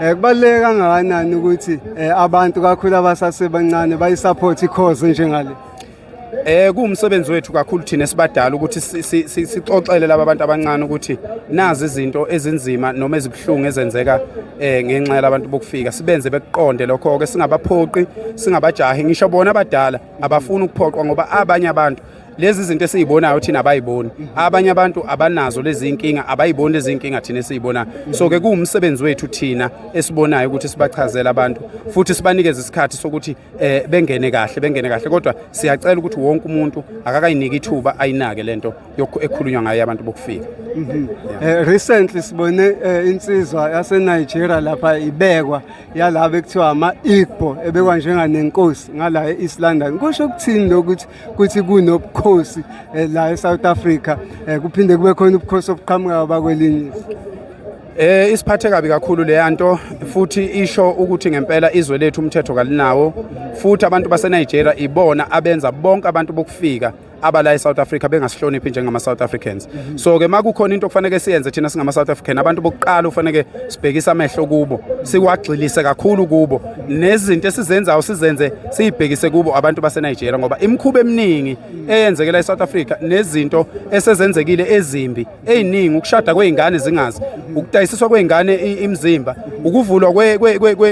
Eh kubaluleke kangakanani ukuthi eh, abantu kakhulu abasasebancane bayisupport ikhozi njengale? Eh kuwumsebenzi wethu kakhulu thina sibadala ukuthi sixoxele laba bantu abancane ukuthi nazi izinto ezinzima noma ezibuhlungu ezenzeka eh ngenxa yabantu bokufika sibenze bekuqonde lokho ke singabaphoqi singabajahi ngisho bona abadala abafuni ukuphoqwa ngoba abanye abantu lezi zinto esizibonayo thina abayiboni abanye abantu abanazo lezi inkinga abayiboni lezi inkinga thina esizibonayo so ke kuwumsebenzi wethu thina esibonayo ukuthi sibachazele abantu futhi sibanikeze isikhathi sokuthi eh, bengene kahle bengene kahle kodwa siyacela ukuthi wonke umuntu akakayiniki ithuba ayinake lento ekhulunywa ngayo abantu bokufika mhm. eh, recently sibone eh, insizwa yase Nigeria lapha ibekwa yalabo ekuthiwa ama Igbo ebekwa njenganenkosi ngala eIslandani kusho ukuthini lokuthi kuthi kunobukhosi eh, la eSouth Africa eh, kuphinde kube khona ubukhosi obuqhamuka abakwelinye Eh isiphathe kabi kakhulu le nto futhi isho ukuthi ngempela izwe lethu umthetho kalinawo futhi abantu base Nigeria ibona abenza bonke abantu bokufika abala eSouth Africa bengasihloniphi njengama South Africans mhm. so ke makukhona into okufanele siyenze thina singama South African abantu bokuqala ufanele sibhekisa amehlo kubo siwagxilise kakhulu kubo nezinto esizenzayo sizenze siyibhekise kubo abantu baseNigeria ngoba imikhuba eminingi eyenzekela eSouth Africa nezinto esezenzekile ezimbi eziningi ukushada kweingane zingazi ukudayisiswa kweingane imizimba ukuvulwa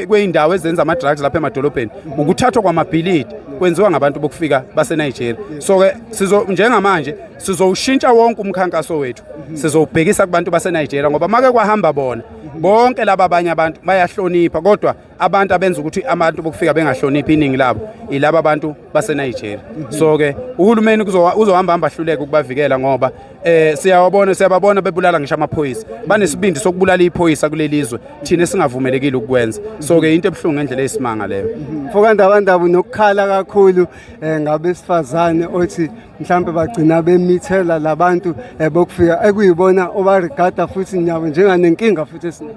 kweindawo ezenza ama drugs lapha emadolobheni ukuthathwa kwamabhilidi kwenziwa ngabantu bokufika baseNigeria so ke sizo njengamanje sizowushintsha wonke umkhankaso wethu sizowubhekisa kubantu baseNigeria ngoba make kwahamba bona bonke laba abanye abantu bayahlonipha kodwa abantu abenza ukuthi abantu bokufika bengahloniphi iningi labo ilaba abantu baseNigeria so ke uhulumeni uzohamba hamba ahluleke ukubavikela ngoba eh siyawabona siyababona bebulala ngisho amaphoyisa banesibindi sokubulala iphoyisa kulelizwe thina singavumelekile ukwenza so ke into ebhlungu ngendlela eyisimanga leyo mfoka ndabandaba nokukhala kakhulu eh, ngabesifazane othi mhlawumbe bagcina bemithela labantu eh, bokufika ekuyibona obarigada futhi nyabo njenganenkinga futhi esinayo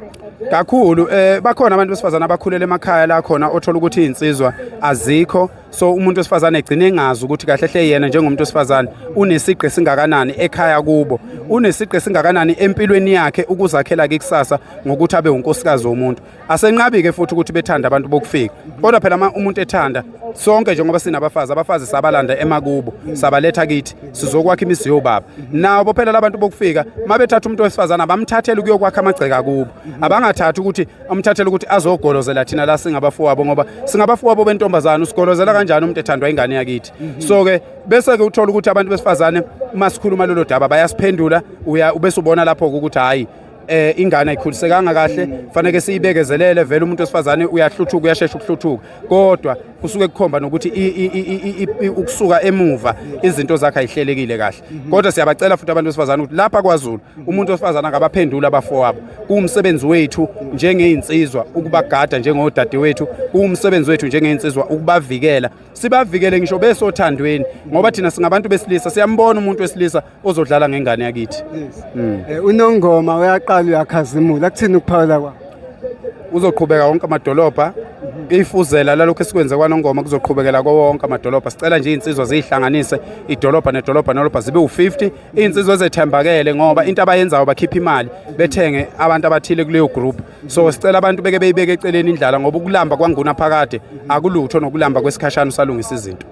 kakhulu eh bakhona abantu besifazana abakhulele emakhaya la khona othola ukuthi insizwa azikho so umuntu wesifazane egcine engazi ukuthi kahle hle yena njengomuntu wesifazane unesigqi singakanani ekhaya kubo unesigqi singakanani empilweni yakhe ukuzakhela ke kusasa ngokuthi abe unkosikazi womuntu asenqabi-ke futhi ukuthi bethanda abantu bokufika kodwa phela uma umuntu ethanda sonke njengoba sinabafazi abafazi sabalanda emakubo sabaletha kithi sizokwakha imizi yobaba nabo phela labantu bokufika uma bethatha umuntu wesifazane abamthathele ukuyokwakha amagceke akubo abangathathi ukuthi amthathele ukuthi azogolozela thina la singabafowabo ngoba singabafowabo bentombazane usigolozela kanjani umuntu ethandwa ingane yakithi so-ke bese-ke uthola ukuthi abantu besifazane uma sikhuluma lolo daba bayasiphendula ubese ubona lapho-ke ukuthi hhayi eh ingane ayikhulisekanga kahle faneke siyibekezelele vele umuntu osifazane uyahluthuka uyashesha ukuhluthuka kodwa kusuke kukhomba nokuthi ukusuka emuva izinto zakhe ayihlelekile kahle kodwa siyabacela futhi abantu besifazane ukuthi lapha kwaZulu umuntu osifazana ngabaphendula abafowabo kuwumsebenzi wethu njengeinsizwa ukubagada njengodade wethu kuwumsebenzi wethu njengeinsizwa ukubavikela sibavikele ngisho besothandweni ngoba thina singabantu besilisa siyambona umuntu wesilisa ozodlala ngengane yakithi mm. eh, unongoma uyaqala uyakhazimula kuthini ukuphawula kwa uzoqhubeka wonke amadolobha ifuzela lalokho esikwenze kwanongoma kuzoqhubekela kowonke amadolobha sicela nje iy'nsizwa ziyihlanganise idolobha nedolobha nolobha zibe u-50 iy'nsizwa ezethembakele ngoba into abayenzayo bakhipha imali bethenge abantu abathile kuleyo group so sicela abantu beke beyibeke eceleni indlala ngoba ukulamba kwanguna phakade akulutho nokulamba kwesikhashana usalungisa izinto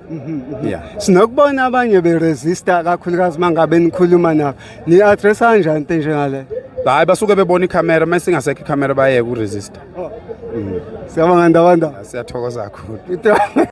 yeah sinokubona abanye beresista kakhulukazi mangabe nikhuluma nabo ni-addressa kanjani into enjengaleyo hayi basuke bebona ikhamera uma singasekho ikhamera bayeke uresista oh. mm. siyabonga ndabanda siyathokoza kakhulu